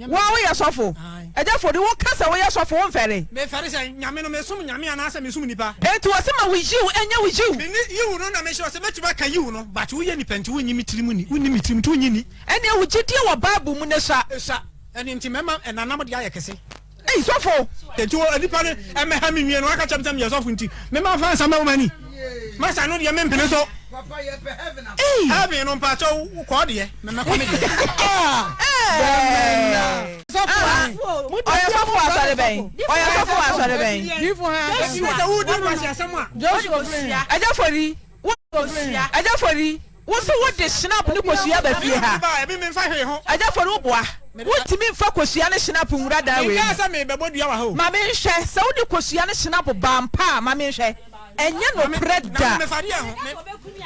Wo a woyɛ sɔfo. Agya Fode, wo ka sɛ woyɛ sɔfo, wo nfɛre? Me fɛre sɛ Nyame no, me som Nyame anaa sɛ me som nipa? Enti wɔ se ma wo Yiw ɛnyɛ wo Yiw? Me ne Yiw no na me hyɛ ɔse mɛtumi aka Yiw no, but wo yɛ nipa nti wo nnye me tiri mu ni, wo nni me tiri mu nti wo nnye nni. Ɛneɛ wo gyedie wɔ Bible mu no sua. Esua. Ɛno nti mɛma ɛnanam deɛ ayɛ kɛse. Ei sɔfo! Enti wo nipa no mmɛha me nwie no waka kyerɛ me sɛ meyɛ sɔfo nti me ma fa nsa ma wo mani masa no deɛ me mpene so. Ei! Heaven no mpakyɛ wo wo kɔ deɛ me mmɛkɔ me deɛ. Aah! Ɔyɛ sɔfo wɔ asɔre bɛn? Ɔyɛ sɔfo wɔ asɔre bɛn? Ɛnti sɛ wo di nkwaseasɛm a. Joshua Ofori. Ɛgya fori. Wo. Ofori. Ɛgya fori. Wo se wo de Schnapp ne kosua ba fie ha? Agya Fori wo boa. Wo ntumi nfa kosua ne Schnapp nwura dan wei mu. Ma me nhwɛ, sɛ wo de kosua ne Schnapp ba ampa a, ma me nhwɛ. Ɛnyɛ nokorɛ da.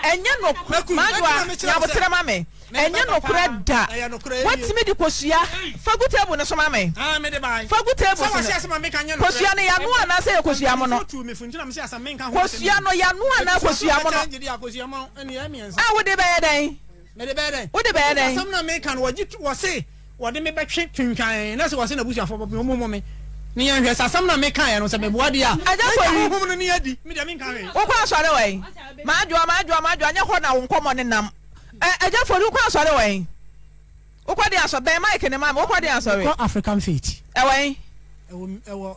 Ɛnyɛ nokorɛ. Manuwa, nya aboterɛ ma me. Ɛnyɛ nokorɛ da. Watumi de kosua. Fa gu table no so ma me. Fa gu table so no. Kosua no yanoa anaasɛ ɛyɛ kosua mono? Kosua no yanoa anaa kosua mono? A wode bɛyɛ dɛn? Mede bɛyɛ dɛn? Wode bɛyɛ dɛn? Asɛm na meka no wɔgye tu wɔse wɔde me bɛtwe twintwan na sɛ wɔse na busuafo bɔ me ɔmo mo me. Ne yɛn hwɛ sɛ asɛm na meka yɛ no sɛ meboa deɛ a. Agya kɔ yi. Honhom no ne adi. Me deɛ menka hwee. Wokɔ asɔre wɛn? Madwoa madwoa madwoa nyɛ hɔ na wo nkɔmmɔ ne nam. Ɛ agya fori wokɔ asɔre wɛn? Wokɔ de asɔ bɛn mic ne ma me wokɔ de asɔre. Mekɔ African Faith. Ɛwɛn? Ɛwɔ ɛwɔ.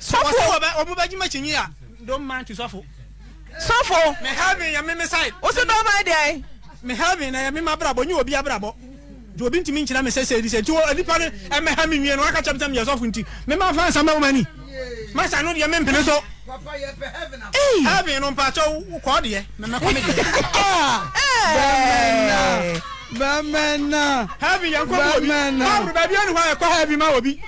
Sɔfo. Wɔsɛ wɔ bɛ wɔn bɛ gyima kyinyi a don't mind to sɔfo. Sɔfo. Me heaven yɛ me me side. Wosi don't mind deɛ. Me heaven na yɛ me ma brabɔ nye obi abrabɔ. Nti obi ntumi nkyerɛ me sɛ sɛ ɛdi sɛ nti wɔ nipa no ɛmɛ ha me nwie no waka kyerɛ me sɛ meyɛ sɔfo nti me ma fa nsa ma wo mani. Masa no deɛ me mpene so. Heaven no mpakyɛ wo kɔɔ deɛ mɛmɛ kɔ me deɛ. Bɛmɛna. Bɛmɛna. Heaven yɛn kɔ mu obi. Bɛmɛna. Baabi ɛni hɔ a yɛ kɔ heaven ma obi.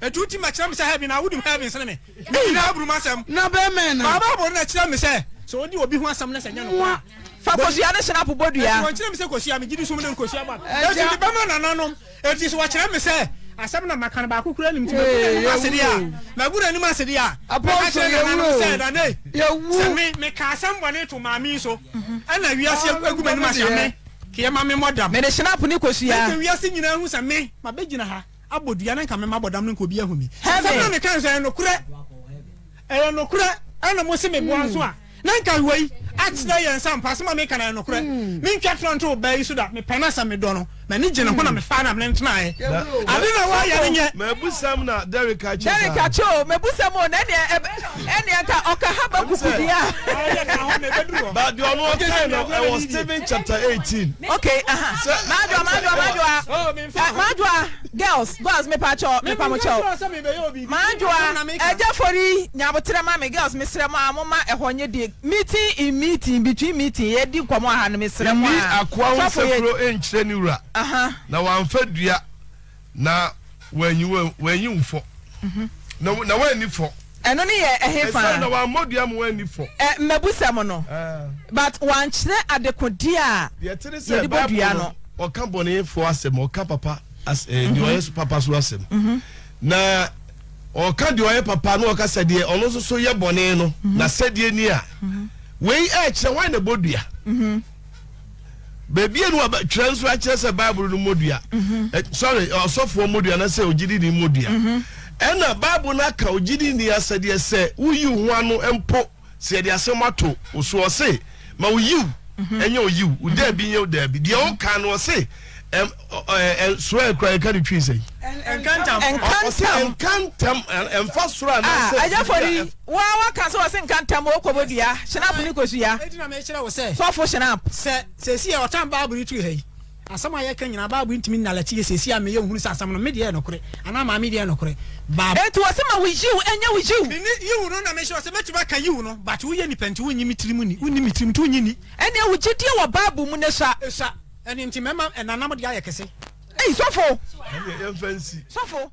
Etu ntsi ma kyerɛ me sɛ heaven a wodum heaven sen me. Me nyina aburu m'asɛm. Na bɛmɛn no. Maa Bible no na kyerɛ me sɛ sɛ odi obi ho asɛm na sɛ nnyɛ nokwar a. Fa kosua no hyɛ n'apobɔ dua. Enti wɔnkyerɛ me sɛ kosua, megye di sum no nkosua ba. Enti mede bɛma nananom. Enti sɛ wɔkyerɛ me sɛ asɛm na maka no baako koraa nnim nti magu n'anim ase de a, magu n'anim ase de a, mɛka kyerɛ nananom sɛ, Nana ei, sɛ me, mekaa asɛm bɔne to maame yi so, ɛna wiase agu m'anim ase a, me, keyɛ ma memmɔ dam. Mede hyɛnap ne kosua. Mɛgye wiase nyinaa ahu sɛ me, mabɛgyina ha. abɔ dua na nka mema bɔdam no nka obi ahu me asɛm na meka nso ɛyɛ nokorɛ ɛyɛ nokorɛ ɛna mo se meboa hmm. nso a na nka wei akyerɛ yɛn nsa mpa asɛm a meka na ɛyɛ nokorɛ hmm. mentwa torɔ nto ɔbaa yi so da mepɛ no asɛm medɔ no m'ani gye ne ho na hmm. mefaa na mene ntenaeɛ ade na woayɛ no nyɛ mabusɛm na derek akyɛ derek akyɛ o mabusɛm o na ɛneɛ nka ɔka ha baku kudi a but deɛ ɔno ɔkae no ɛwɔ stephen chapter 18 okay uh-huh. madwa madwa madwa Eh m'adwoa girls girls mepakyɛw mepamokyɛw m'adwoa ɛgya fori nyaboterɛ ma me girls mesrɛ mo a moma ɛhɔ nye deɛ meeting in meeting between meeting yɛdi nkɔmɔ aha no mesrɛ mo a Nni akoa ho sɔfo yɛ nsekuro nkyerɛ ne wura, aha na wamfa dua na wanyi wo wanyi wo fɔ na na wanni fɔ. Ɛno no yɛ ɛhefa? Esiane na wammɔ dua mu anni fɔ. Ɛ, mmebusɛm no. But wankyerɛ adekode a Deɛ ɛte ne sɛ, yɛde bɔ Bible dua no, no. ɔka bɔnefoɔ asɛm, ɔka papa as, eh, deɛ ɔyɛ so papa so asɛm. Na ɔka deɛ ɔyɛ papa na ɔka sɛ deɛ ɔno nso so yɛ bɔne no, n'asɛdeɛ ni a. Wei ɛrekyerɛ hwan na ɛbɔ dua. baabi a no twerɛ nso akyerɛ sɛ bible no mmɔdua mhm. eh, sorry ɔsɔfoɔ mmɔdua anasɛ ogyidini mmɔdua mhm. ɛna bible no aka ogyidini asɛdeɛ sɛ woyi ho ano mpo sɛ yɛde asɛm ato wo so ɔse ma woyiw mhm. ɛnyɛ oyiw wo daabi nyɛ daabi deɛ woka no ɔse soro a ɛkura ɛka ne twi sɛn. nkantam nkantam nkantam ɛnfa soro anaasɛ. a ɛyɛ fɔri wa wa kan sɛ ɔsi nkantam o kɔbɔ dua sinapu ni kosu ya. eti na mi kyerɛ wo sɛ. sɔfo sinapu. sɛ sɛsi yɛ ɔtan baabu yi turu ha yi asɛm a yɛka nyinaa baabu ntumi nnalɛte yɛ sɛsi a meyɛ ohunu sɛ asɛm no me deɛ ɛnokorɛ anaa maame deɛ ɛnokorɛ baabu. eti wɔ sɛ ma wo yiw ɛnyɛ wo yiw. mi ni yiw no na mi sɛ ɔsɛ mɛtumi aka yiw no but woyɛ nipa nti wonyi mi tirim ni wonni mi tirim nti wonyi ni. ɛnna ewu gyidie wɔ baabu mu ne sua. esua. Ɛno nti mɛma ɛnanam de ayɛ kɛse. Ei sɔfo! Ɛneɛ yɛmfa nsi. Sɔfo!